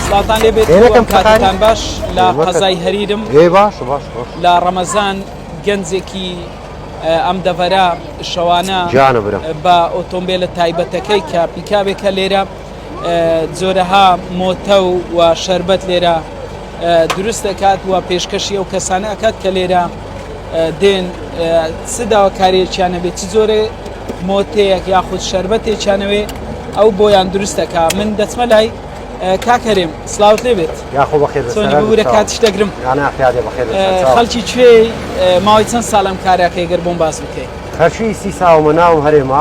سڵاتان لێ بێت ئێرەکەم کاتتان کاتتان باش لە ئێوە کە- قەزای هەریرم هێ باش باش باش لە ڕەمەزان گەنجێکی ئە، ئەم دەڤەرە شەوانە گیانە برام. بە ئۆتۆمبیلە تایبەتەکەی کە پیکابێکە لێرە جۆرەها مۆتەو و شەربەت لێرە دروست دەکات و پێشکەشی ئەو کەسانە ئەکات کە لێرە دێن چ داواکاریەکییانە بێت چ جۆرێ مۆتەیەک یاخود شربەتێکیانەوێ ئەو بۆیان دروستەکە من دەچمە لای کاکەرێم سلااوت لێ بێت یاخۆ بەخێر بورە کاتش دەگرم خەڵکی کوێ ماوەی چەند ساڵم کارەکەی گەر بۆم باز بکەیت خەرشی سی ساومە ناوم هەرێما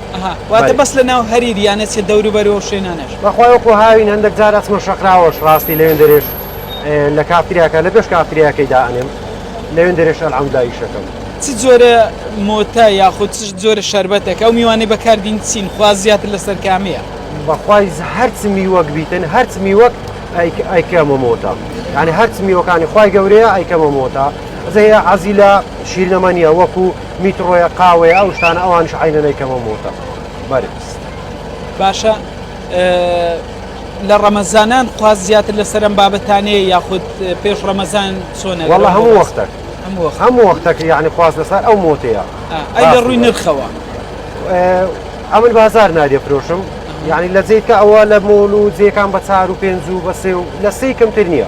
ئەها واتە بەس لە ناو هەریر یانە چیە دەورو بەرو ئەو شوێنانەش. بەخوای وەکو هاوین هەندەک جار ئەچمە شەقراوەش ڕاستی لەوێن دەرێش لە کافتریاکە لە پێش کافتریاکەی دا ئەنێم لەوێن دەرێش ئەلحەمدولا ئیشەکەم. چ جۆرە مۆتە یاخود چ جۆرە شەربەتەک ئەو میوانەی بەکار دین چین خواست زیاتر لەسەر کامەیە؟ بەخوای هەرچ میوەک بیتن هەرچ میوەک ئەیکەمە مۆتە یانی هەرچ میوەکانی خوای گەورەیە ئەیکەمە مۆتە زەیە عەزیلا شیرنەمانیە وەکو میتڕۆیە قاوەیە ئەو شتانە ئەوانش عینەی کەمە مۆتە بەرز باشە لە ڕەمەزانان خواز زیاتر لە سەرم بابەتانەیە یاخود پێش ڕەمەزان سۆنە وڵە هەموو وەختە هەموو وەختەکە یعنی خواز لەسەر ئەو مۆتەیە ئەی لە ڕووی نرخەوە ئەمن بازار نادێ فرۆشم یعنی لە جیتکە ئەوە لە مۆل و جێکان بە چار و پێنج و بەسێ و لە سی کەمتر نییە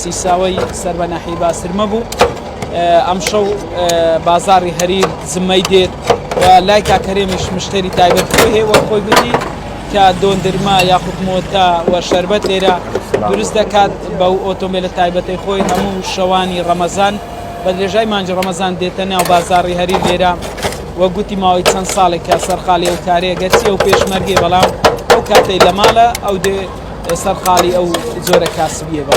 سیساوەی سەر بە ناحیەی باسرمە بوو ئەمشەو بازاری هەریر زمەی دێت لای کاکەرێمیش مشتری تایبەت خۆی هەیە خۆی گوتی کە دۆندرما یاخود مۆتا و شربەت لێرە دروست دەکات بەو ئۆتۆمبیلە تایبەتی خۆی هەموو شەوانی ڕەمەزان بە درێژای مانجی ڕەمەزان دێتە ناو بازاری هەری لێرە وە گوتی ماوەی چەند ساڵێکە سەرقالی ئەو کارەیە گەرچی ئەو پێشمەرگێ بەڵام ئەو کاتەی لە ماڵە ئەو دێ سەرقاڵی ئەو جۆرە کاسبیە بە.